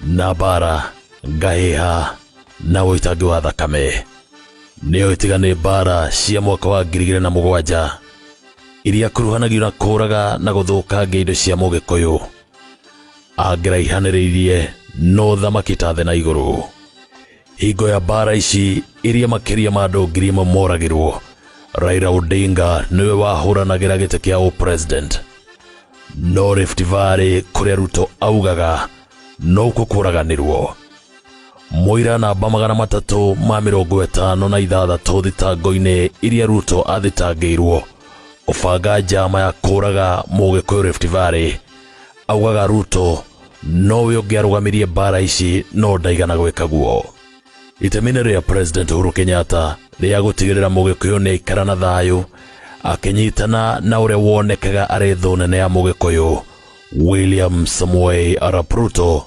na mbaara ngahĩha na ũitangi wa thakame nĩyo ĩtiga nĩ mbaara cia mwaka wa ngiri igĩrĩ na mũgwanja iria kuruhanagio na kũũraga na gũthũkangia indo cia mũgĩkũyũ angĩraihanĩrĩirie no thamaki ta thĩ na igũrũ hingo ya mbaara ici iria makĩria ma andũ ngiri ĩmwe moragĩrwo raila odinga nĩwe wahũranagĩra gĩtĩ kĩa ũpresident no rift valley kũrĩa ruto augaga nokuo kũraganĩrwo mũira namba magana matatũ ma mĩrongo ĩtano na ithathatũ thitango-inĩ iria ruto athitangĩirwo kũbanga njama ya kũraga mũgĩkũyũ rift valley augaga ruto nowe ũngĩ arũgamirie mbara ici no ndaigana gwĩka guo itemi-inĩ rĩa president uhuru kenyatta rĩa gũtigĩrĩra mũgĩkũyũ nĩ aikara na thayũ akĩnyitana na ũrĩa wonekaga arĩ thũ nene ya mũgĩkũyũ william samuel arap ruto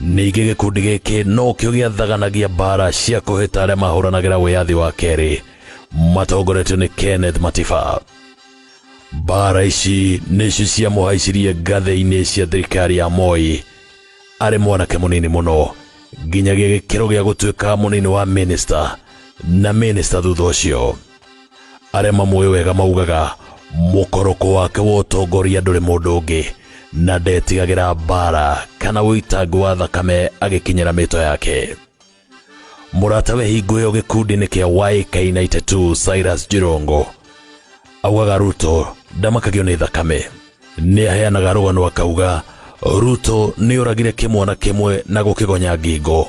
Ningĩ gĩkundi gĩkĩ nokĩo gĩathaganagia mbaara cia kũhĩta arĩa mahũranagĩra wĩyathi wa kerĩ matongoretio nĩ Kenneth Matiba. Mbaara ici nĩcio ciamũhaicirie ngathĩ-inĩ cia thirikari ya Moi arĩ mwanake mũnini mũno nginyagia gĩkĩro gĩa gũtuĩka mũnini wa minista na minista thutha ũcio. arĩa mamũĩ wega maugaga mũkoroko wake wa ũtongoria ndũrĩ mũndũ ũngĩ na ndetigagĩra mbara kana ũitangi wa thakame agĩkinyĩra mĩto yake mũrata we hingo ĩyo gĩkundi-inĩ kĩa YK92 Cyrus Jirongo augaga Ruto ndamakagio nĩ thakame nĩ aheanaga rũgano akauga Ruto nĩ oragire kĩmwana kĩmwe na gũkĩgonya ngingo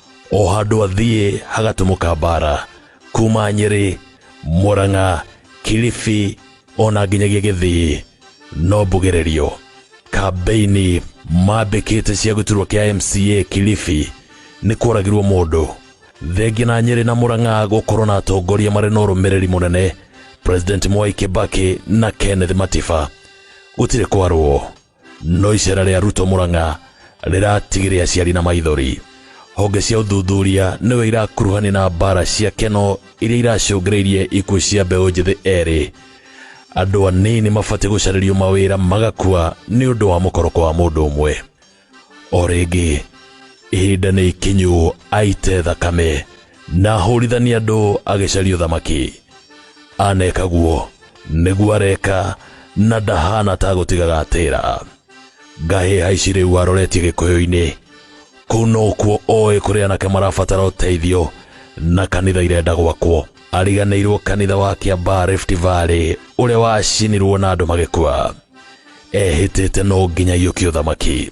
o handũ athiĩ hagatumũka mbara kuma nyĩrĩ mũrang'a kilifi ona nginyagia gĩthii no mbugĩrĩrio kambeini mambĩkĩte cia gĩturwa kĩa mca kilifi nĩ kũragirwo mũndũ thengia na nyĩrĩ na mũrang'a gũkorwo na atongoria marĩ na ũrũmĩrĩri mũnene president mwai kĩbakĩ na kenneth matiba gũtirĩ kwarwo No icera rĩa Ruto Murang'a rĩratigire aciari na maithori. Honge cia ũthuthuria nĩwe irakuruhani na mbara cia keno iria iracũngĩrĩirie ikuũ cia mbeũ njĩthĩ erĩ. Andũ anini mabatiĩ gũcarĩrio mawĩra magakua nĩ ũndũ wa mũkoroko wa mũndũ ũmwe. O rĩngĩ ihinda nĩ ikinyu aite thakame na hũrithania andũ agĩcaria ũthamaki aneka guo nĩguo areka na ndahana ta gũtiga gatĩra ngahĩ haici rĩu aroretie gĩkũyũ-inĩ kũu no kuo oĩ kũrĩ anake marabatara ũteithio na kanitha irenda gwakwo ariganĩirwo kanitha wa kĩambaa Rift Valley ũrĩa wacinirwo na andũ magĩkua ehĩtĩte no nginya iyũkie ũthamaki